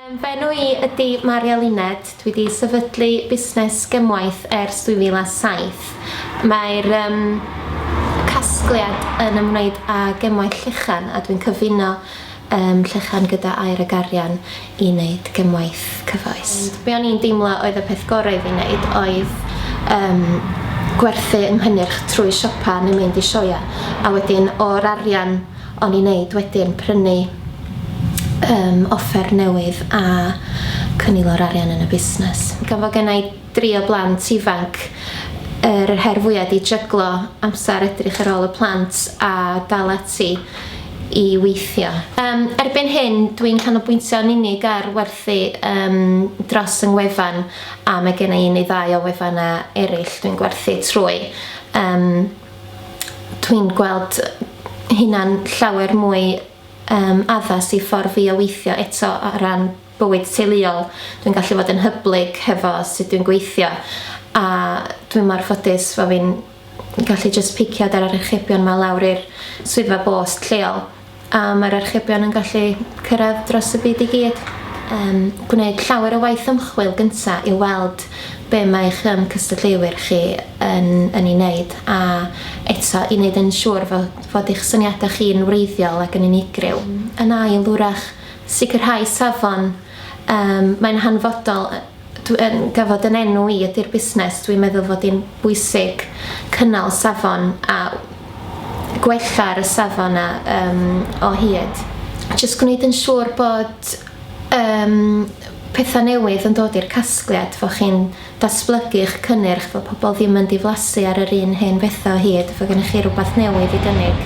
Fy enw i ydy Maria Luned, dwi wedi sefydlu busnes gymwaith ers 2007. Mae'r um, casgliad yn ymwneud â gymwaith llechan a dwi'n cyfuno um, llechan gyda air ag arian i wneud gymwaith cyfoes. Be o'n i'n deimlo oedd y peth gorau i fi wneud oedd um, gwerthu yng nghynnyrch trwy siopa neu mynd i sioia a wedyn o'r arian O'n i'n neud wedyn prynu yym offer newydd a cynilo yr arian yn y busnes. Gan fod genna i dri o blant ifanc, yr her fwya 'di jyglo amser edrych ar ôl y plant a dal ati i weithio. Yym, erbyn hyn dwi'n canolbwyntio yn unig ar werthu yym dros yng ngwefan a mae genna i un neu ddau o wefana ereill dwi'n gwerthu trwy. Yym. dwi'n gweld hynna'n llawer mwy um, addas i ffordd fi o weithio eto o ran bywyd teuluol. Dwi'n gallu fod yn hyblyg hefo sut dwi'n gweithio a dwi'n mor ffodus fod fi'n gallu just picio ar archebion ma lawr i'r swyddfa bost lleol A mae'r archebion yn gallu cyrraedd dros y byd i gyd. Um, gwneud llawer o waith ymchwil gyntaf i weld be mae eich um, cystadleuwyr chi yn, yn ei wneud a eto i wneud yn siŵr fod, fod eich syniadau chi'n wreiddiol ac yn unigryw. Yn ail, wrach, sicrhau safon. Um, mae'n hanfodol Dw yn gyfod yn enw i ydy'r busnes, dwi'n meddwl fod hi'n bwysig cynnal safon a gwella ar y safon na um, o hyd. Jyst gwneud yn siŵr bod um, pethau newydd yn dod i'r casgliad, fod chi'n datblygu eich cynnyrch, fod pobl ddim yn diflasu ar yr un hen bethau o hyd, fod gennych chi rhywbeth newydd i gynnig.